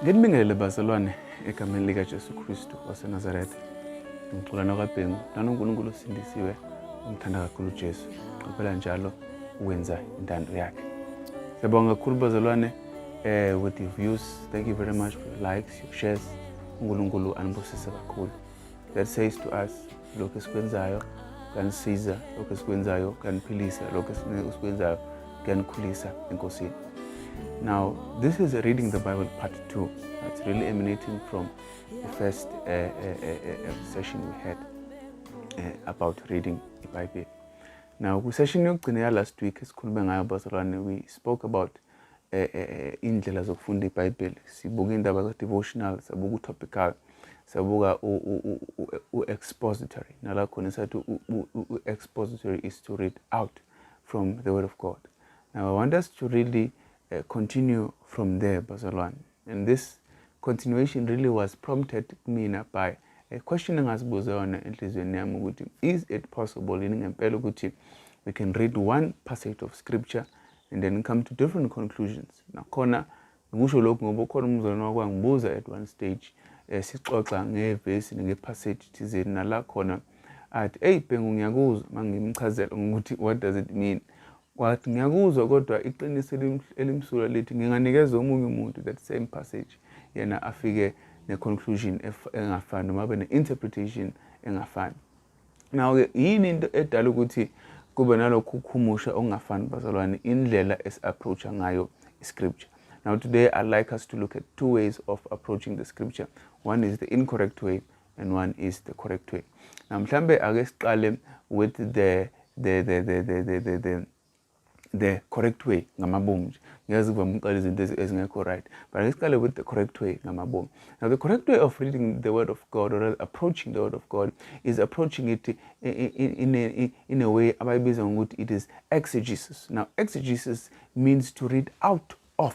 nginibingelele bazalwane egameni likajesu kristu wasenazaretha ngicula nokwabhengu nanonkulunkulu osindisiwe umthanda kakhulu ujesu qaphela njalo ukwenza intando yakhe siyabonga kakhulu bazalwane um with the views thank you very much for the likes shares uNkulunkulu anibusise kakhulu that says to us lokho esikwenzayo kanisiza lokho esikwenzayo kaniphilisa lokho esikwenzayo kuyanikhulisa enkosini now this is reading the bible part two that's really emanating from the first uh, uh, uh, uh session we had uh, about reading the bible now kwisession yokugcina ya last week esikhulume ngayo bazalwane we spoke about eh, eh, eh, iy'ndlela zokufunda ibhayibheli sibuka iy'ndaba za-devotional sabuka u-topical sabuka u-expository nala khona esathi u-expository is to read out from the word of god now i want us to really uh, continue from there bazalwane and this continuation really was prompted kumina by a question engazibuza yona enhliziyweni yami ukuthi is it possible yini ngempela ukuthi we can read one passage of scripture and then come to different conclusions nakhona ngikusho lokhu ngoba ukhona umzalwane wakho angibuza at one stage eh, sixoxa ngevesi ngepassage thizeni nala khona athi eyi bhengu ngiyakuzwa uma ngimchazela ngokuthi what does it mean wathi ngiyakuzwa kodwa iqiniso elimsulwa lithi nginganikeza omunye umuntu that same passage yena afike ne-conclusion engafani noma abe ne-interpretation engafani Nawo-ke yini into edala ukuthi kube nalokhu ukhumusha okungafani bazalwane indlela esi-approacha ngayo i-scripture now today i like us to look at two ways of approaching the scripture one is the incorrect way and one is the correct way now mhlambe ake siqale with the the the the the the, the, the the correct way ngamabomu nje ngeke zivame ukuqala izinto ezingekho right but ake siqale with the correct way ngamabomu now the correct way of reading the word of god or approaching the word of god is approaching it in, in, in, a, in a way abayibiza ngokuthi it is exegesis now exegesis means to read out of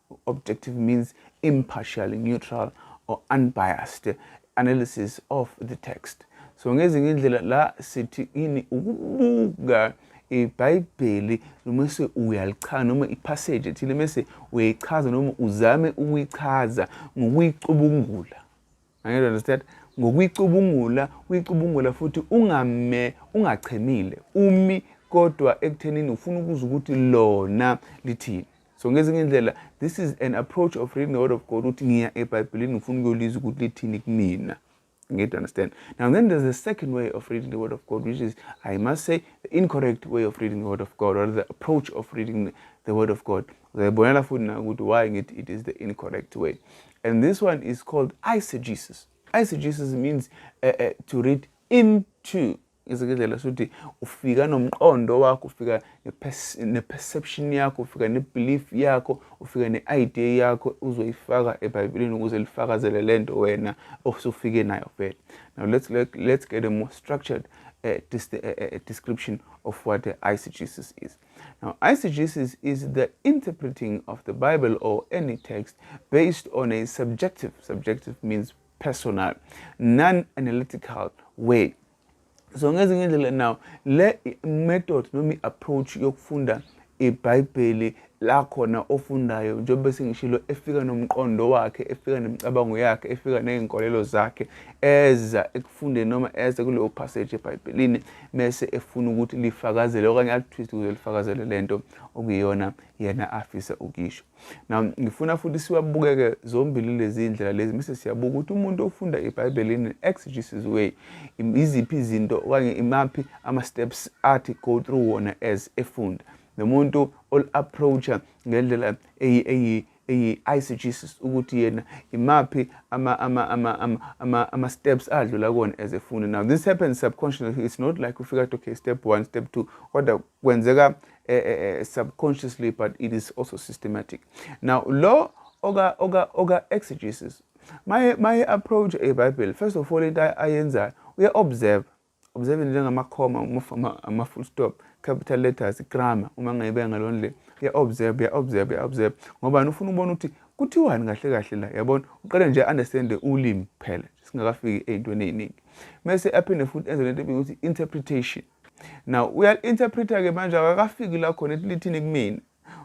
Objective means impartial, neutral or unbiased analysis of the text. So ngezinye indlela la sithi ini ukubuka ibhayibheli noma se uyalichaza noma ipassage ethile mese uyayichaza noma uzame ukuyichaza ngokuyicubungula Angeke understand? Ngokuyicubungula, uyicubungula futhi ungame ungachemile. Umi kodwa ekuthenini ufuna ukuzwa ukuthi lona lithini. So ngezinye indlela this is an approach of reading the word of God ukuthi ngiya eBhayibhelini ngifuna ukuyolizwa ukuthi lithini kumina. Ngiyed understand. Now then there's a second way of reading the word of God which is I must say the incorrect way of reading the word of God or the approach of reading the word of God. Uzayibonela futhi na ukuthi why ngithi it is the incorrect way. And this one is called eisegesis. Eisegesis means uh, uh, to read into izikindlela sokuthi ufika nomqondo wakho ufika ne-perception yakho ufika ne-belief yakho ufika ne-idea yakho uzoyifaka ebhayibhelini ukuze lifakazele le nto wena osufike nayo vele now let's, let, let's get a more structured uh, dis, uh, uh, description of what the eisegesis is Now, eisegesis is the interpreting of the Bible or any text based on a subjective, subjective means personal, non-analytical way. So ngezinye indlela now le method noma i-approach yokufunda ibhayibheli la khona ofundayo njengoba sengishilo efika nomqondo wakhe efika nemicabango yakhe efika ney'nkolelo zakhe eza ekufundeni noma eza kuleyo passage ebhayibhelini mese efuna ukuthi lifakazele okanye alithwiste ukuze lifakazele lento okuyiyona yena afisa ukisho now ngifuna futhi siwabukeke zombili lezi ndlela lezi mese siyabuka ukuthi umuntu ofunda ibhayibheli in exegesis way iziphi izinto okanye imaphi ama-steps athi go through wona as efunda nomuntu ol-approacha ngendlela eyi eyi i-ICGs ukuthi yena imaphi ama-steps adlula kona as a fundi now this happens subconsciously it's not like ufika to okay step one step two kodwa kwenzeka eh, eh, eh, subconsciously but it is also systematic now lo oka oka oka exegesis my my approach ebhayibheli first of all into ayenzayo uya-observe observing njengamakhoma ama-full stop capital letters grammar uma ngayibeka ngalo ndlela uya-observe uya-observe uya-observe ngobani ufuna ukubona ukuthi kuthiwani kahle kahle la yabona uqale nje understande ulimi kuphela singakafiki ey'ntweni ey'ningi mese aphinde futhi enze lento ebika ukuthi interpretation now uya-interpreta-ke manje akakafiki la khona lithini kumina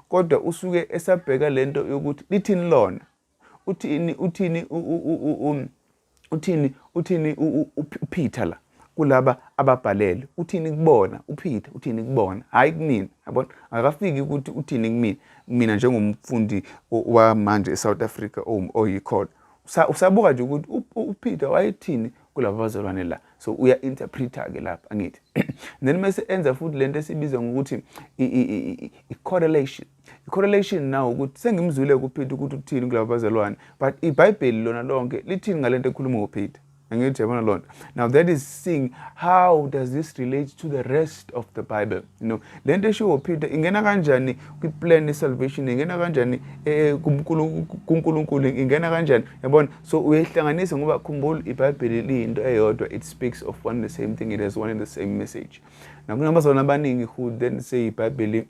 kodwa usuke esabheka lento yokuthi lithini lona uthini uthini um, uthini uthini uPeter la kulaba ababhalele uthini kubona uPeter uthini kubona hayi kumina yabona akafiki ukuthi uthini kumina mina njengomfundi wamanje eSouth Africa oyikhona usabuka nje ukuthi uPeter wayethini kulaba bazalwane la so uya interpreter ke lapha angithi then mase enza futhi lento esibiza ngokuthi i correlation i-correlation now ukuthi sengimzwile kupeter ukuthi uthini kulaba bazalwane but ibhayibheli lona lonke lithini ngale nto ekhuluma ngopeter angithi yabona loo nto now that is seeing how does this relate to the rest of the bible you know le nto eshiwo peter ingena kanjani kwi-plan ye-salvation ingena kanjani eh, kunkulunkulu ingena kanjani yabona so uyayihlanganisa ngoba khumbula ibhayibheli liyinto eyodwa it speaks of one the same thing it has one and the same message nakunabazalwane abaningi who then say ibhayibheli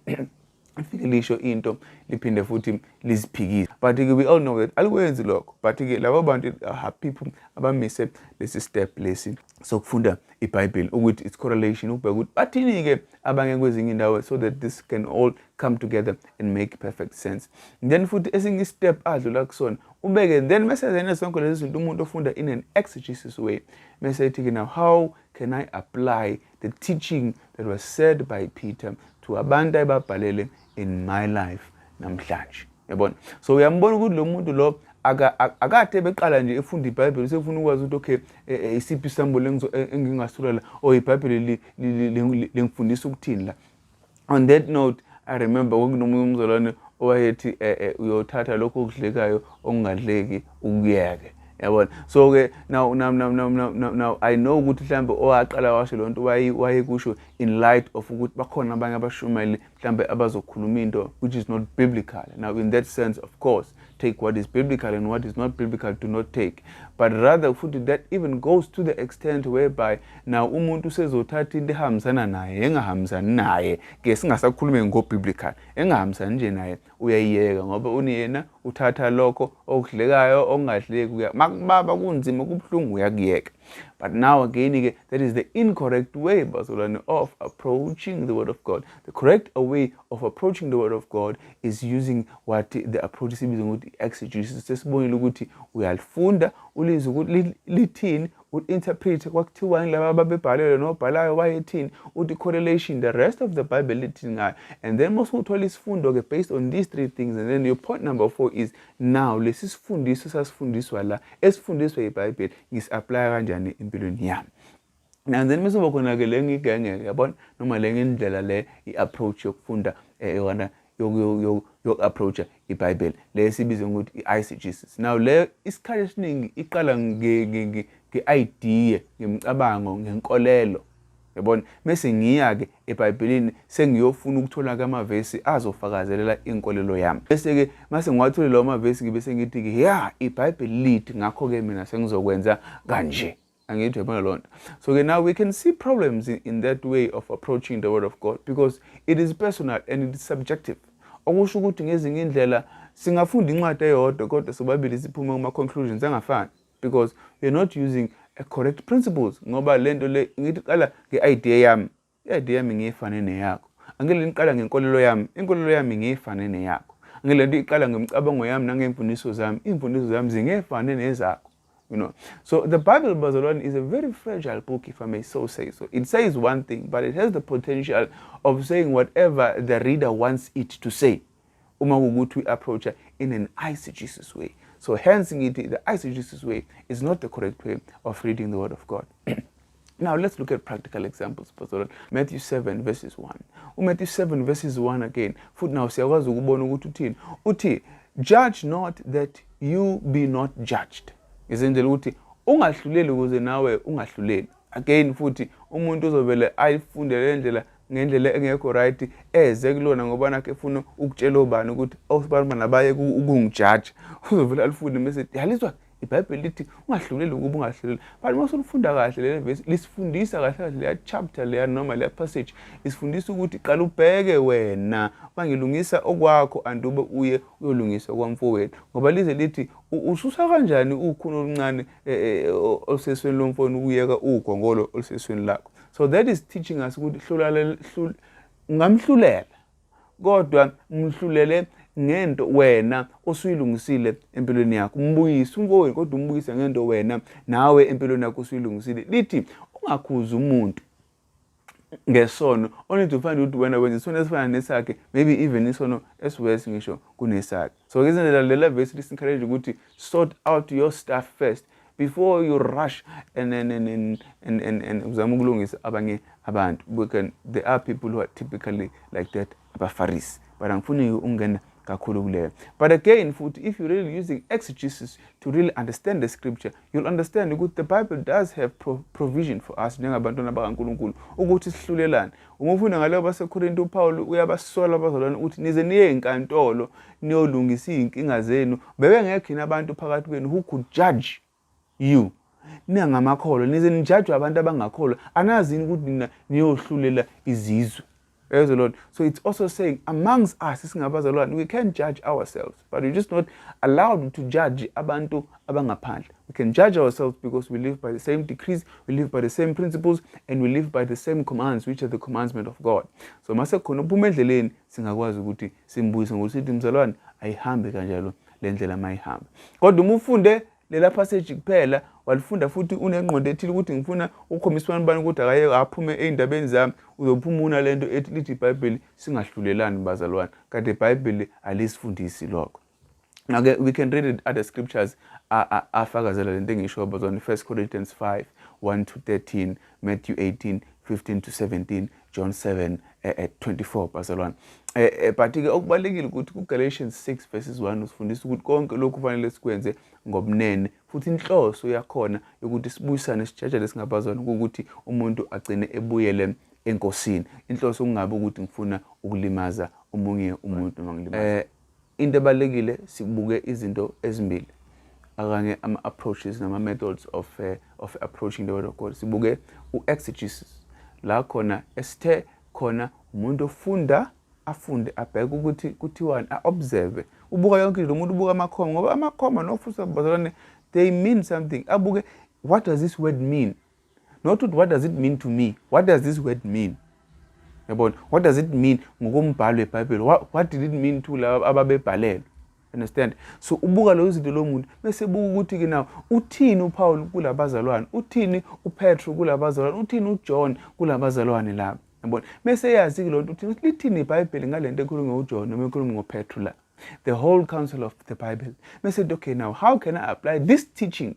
lifike lisho into liphinde futhi liziphikise but ke we all know that alikwenzi lokho but ke laba bantu are people abamise lesi step lesi sokufunda ibhayibheli ukuthi its correlation ukubheka ukuthi bathini-ke abanye kwezinye indawo so that this can all come together and make perfect sense then futhi esinye istep adlula kusona ubeke then mese zene sonke lezi zinto umuntu ofunda in an exegesis way mese ethi-ke now how can i apply the teaching that was said by Peter to abantu ayebabhalele in my life namhlanje yabona so uyambona ukuthi lo muntu lo akade beqala nje efunda ibhayibheli usefuna ukwazi ukuthi okay e, e, isiphi isambulo e, engingasula la or ibhayibheli lengifundisa ukuthini la on that note i remember kwakunomunye umzalwane owayethi eh, eh, uyothatha lokho okudlekayo okungadleki ukuyeke yabona so ke now now now now now now, now i know ukuthi mhlambe owaqala washo lonto waye wayekusho in light of ukuthi bakhona abanye abashumayeli mhlambe abazokhuluma into which is not biblical now in that sense of course take what is biblical and what is not biblical do not take but rather futhi that even goes to the extent whereby now umuntu usezothatha into ehambisana naye engahambisani naye ke singasakhulume ngobiblical engahambisani nje naye uyayiyeka ngoba uniyena uthatha lokho okudlekayo okungadleki uya makubaba kunzima kubuhlungu uyakuyeka but now again ke that is the incorrect way bazalwane of approaching the word of god the correct way of approaching the word of God is using what the approach sibizwa ngokuthi exegesis sesibonile ukuthi uyalifunda ulizwe ukuthi lithini uinterprete kwakuthiwani laba ababebhalelwe nobhalayo wayethini uthi correlation the rest of the bible lithini ngayo and then mose uthola isifundo-ke based on these three things and then your point number four is now lesi sifundiso sasifundiswa la esifundiswa ibhayibheli ngisi-aplaya kanjani empilweni yami and then mese bakhona-ke le ngigenge-ke yabona noma le ngendlela le i-approach yokufunda eh, yona yoku-approacha ibhayibheli le sibize ngokuthi i-eisegesis now leyo isikhathi esiningi iqala nge-idea ngemicabango ngenkolelo yabona mese ngiya-ke ebhayibhelini sengiyofuna ukuthola-ke amavesi azofakazelela inkolelo yami bese-ke mase ngiwathole lawo mavesi-ke bese ngithi-ke ya ibhayibheli lithi ngakho-ke mina sengizokwenza kanje angithi yabona loo nto so ke now we can see problems in, in that way of approaching the word of god because it is personal and it is subjective okusho ukuthi ngezinye indlela singafunda incwadi eyodwa kodwa sobabili siphume kuma-conclusions angafani because we're not using a correct principles ngoba le nto le ngithi qala nge-idea yami I-ID yami ngiyifane neyakho. Angeke lento iqala ngenkolelo yami, inkolelo yami ngiyifane neyakho. Angeke lento iqala ngemicabango yami nangemfundiso zami, imfundiso zami zingefane nezakho. You know, so the Bible, Bazalwane, is a very fragile book, if I may so say so. It says one thing, but it has the potential of saying whatever the reader wants it to say. uma kuwukuthi uyi-approacha in an eisegesis way so hence ngithi the eisegesis way is not the correct way of reading the word of god Now let's look at practical examples Pastor Matthew 7 verses 1. UMatthew 7 verses 1 again. Futhi nawo siyakwazi ukubona ukuthi uthini. Uthi judge not that you be not judged. Izindlela ukuthi ungahluleli ukuze nawe ungahluleli. again futhi umuntu uzovele ayifunde le ndlela ngendlela engekho right eze kulona ngoba nakhe efuna ukutshela obani ukuthi awusibanibani abaye ukungijaja uzovele alifunde mese yalizwa ibhayibheli lithi ungahluleli ukuba ungahluleli but uma usulifunda kahle leli vesi lisifundisa kahle kahle leya chapter leya noma leya passage isifundisa ukuthi qala ubheke wena bangilungisa okwakho andube uye uyolungisa kwamfowethu ngoba lize lithi ususa kanjani ukhuni oluncane eh, eh, olusesweni lomfona ukuyeka ugongolo olusesweni lakho so that is teaching us ukuthi hlulala ungamhlulela kodwa mhlulele ngento wena osuyilungisile empilweni yakho umbuyise umfowenu kodwa umbuyise ngento wena nawe empilweni yakho usuyilungisile lithi ungakhuzi umuntu ngesono only to find ukuthi wena wenza isono esifana nesakhe maybe even isono esiwesi ngisho kunesakhe so ke izindlela lela vesi lisencourage ukuthi sort out your stuff first before you rush and and and and and and, and uzama ukulungisa abanye abantu because there are people who are typically like that abafarisi but angifuni ukungena kakhulu kuleyo but again futhi if you really using exegesis to really understand the scripture you'll understand ukuthi the bible does have pro provision for us njengabantwana bakankulunkulu ukuthi sihlulelane uma ufunda ngaleyo basekorinte upawulu uyabasola abazalwane ukuthi nize niye enkantolo niyolungisa iy'nkinga zenu bebengekho yini abantu phakathi kwenu who could judge you ningamakholwa nize nijajwe abantu abangakholwa anazi yini ukuthi nina niyohlulela izizwe Praise the Lord. So it's also saying, amongst us, we can judge ourselves, but we're just not allowed to judge abantu abangaphandle. We can judge ourselves because we live by the same decrees, we live by the same principles, and we live by the same commands, which are the commandment of God. So mase khona uphuma endleleni singakwazi ukuthi simbuyise ngokuthi mzalwane ayihambe kanjalo le ndlela mayihamba kodwa uma ufunde lela passage kuphela walifunda futhi unengqondo ethile ukuthi ngifuna ukukhombisa abantu bani ukuthi akayeke aphume ey'ndabeni zami uzophuma una le nto ethi lithi ibhayibheli singahlulelani bazalwane kade ibhayibheli alisifundisi lokho Now, we can read other scriptures afakazela le nto engisho bazalwane 1 corinthians 5 1 to 13 matthew 18 15 to 17 John 7 eh, eh, 24 bazalwane eh, eh, but ke okubalekile ukuthi kuGalatians 6 verses 1 usifundisa ukuthi konke lokhu kufanele sikwenze ngobunene futhi inhloso yakhona yokuthi sibuyisane sijajele singabazwana ukuthi umuntu agcine ebuyele enkosini inhloso kungabe ukuthi ngifuna ukulimaza omunye umuntu noma ngilimaza eh, Into ebalulekile sibuke izinto ezimbili akanye ama-approaches nama-methods of, uh, of approaching the word of God. Sibuke u-exegesis la khona esithe khona umuntu ofunda afunde abheke ukuthi kuthiwani a-observe ubuka yonke into umuntu ubuka amakhoma ngoba amakhoma nofusa bazalwane they mean something abuke what does this word mean not ukuthi what does it mean to me what does this word mean yabona what does it mean ngokombhalo webhayibheli what did it mean to laba ababebhalelwe understand so ubuka leyo zinto lo muntu bese buka ukuthi-ke nawo uthini upawulu kula bazalwane uthini upetro kula bazalwane uthini ujohn kula bazalwane laba yabona bese eyazi-ke loo nto uthini lithini ibhayibheli ngale nto ekhulume ujohn noma ekhulume ngopetro la the whole council of the bible bese nto okay now how can i apply this teaching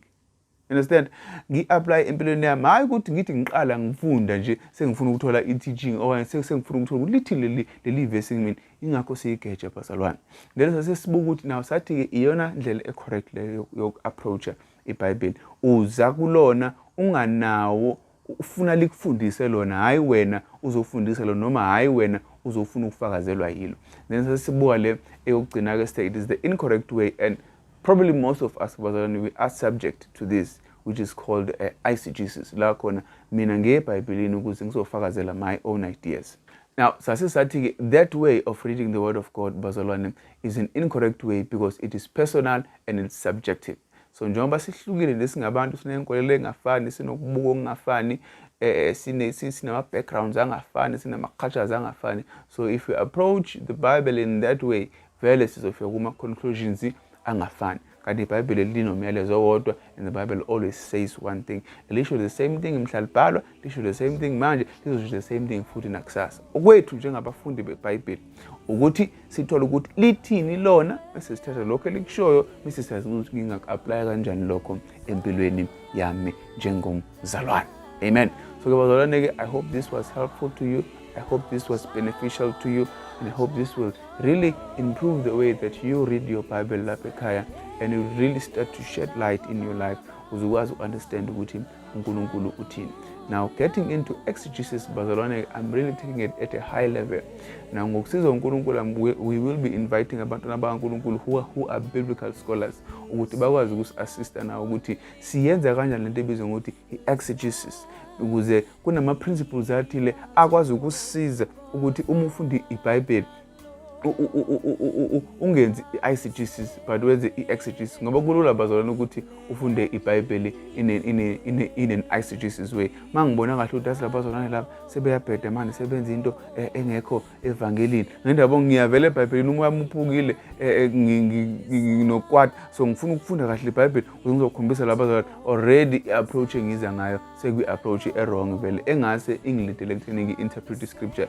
understand ngi-aplaye empilweni yami hhayi ukuthi ngithi ngiqala ngifunda nje sengifuna ukuthola i-teaching okanye sengifuna ukuthola ukuthi lithi leli leli vesi mina ingakho siyigeja bazalwane ngelo sasesibuka ukuthi nawo sathi-ke iyona ndlela e-correct leyo yoku-approacha ibhayibheli uza kulona unganawo ufuna likufundise lona hhayi wena uzofundisa lona noma hhayi wena uzofuna ukufakazelwa yilo then sesibuka le eyokugcina-ke sithe it is the incorrect way and probably most of us bazalwane we are subject to this which is called uh, eh, eisegesis la khona mina ngiye ebhayibhelini ukuze ngizofakazela my own ideas now sase sathi-ke that way of reading the word of god bazalwane is an incorrect way because it is personal and it's subjective so njengoba sihlukile nje singabantu sinenkolelo engafani sinokubuka okungafani eh, eh sinama-backgrounds angafani sinama-cultures angafani so if we approach the bible in that way vele sizofika kuma-conclusions angafani kanti ibhayibheli linomyalezo owodwa and the bible always says one thing lisho the same thing mhlalibhalwa lisho the same thing manje lizosho the same thing futhi nakusasa okwethu njengabafundi bebhayibheli ukuthi sithole ukuthi lithini lona bese sithatha lokho elikushoyo bese siyazi ukuthi ngingaku-aplaya kanjani lokho empilweni yami njengomzalwane amen so ke bazalwane-ke i hope this was helpful to you i hope this was beneficial to you and i hope this will really improve the way that you read your bible lapha ekhaya and you really start to shed light in your life uzokwazi uku-understand ukuthi uNkulunkulu uthini. Now getting into exegesis bazalwane, I'm really taking it at a high level. Now ngokusiza uNkulunkulu um, we will be inviting abantwana bakaNkulunkulu who are, who are biblical scholars ukuthi bakwazi ukusi-assista nawo ukuthi siyenza kanjani lento ebizwa ngokuthi i-exegesis ukuze kunama-principles athile akwazi ukusiza ukuthi uma ufundi ibhayibheli ungenzi i-exegesis but wenze i-exegesis ngoba kulula bazalwana ukuthi ufunde ibhayibheli in an exegesis way uma ngibona kahle ukuthi asi labazalwane laba sebeyabheda manje sebenza into eh, engekho evangelini ngendaba ngiyavela ebhayibhelini umoya muphukile eh, eh, nginokwata so ngifuna ukufunda kahle ibhayibheli ukuze ngizokhombisa labazalwane already i-approach engiza ngayo sekwi-approach erong vele engase ingilidele ekutheni ngi-interpret i-scripture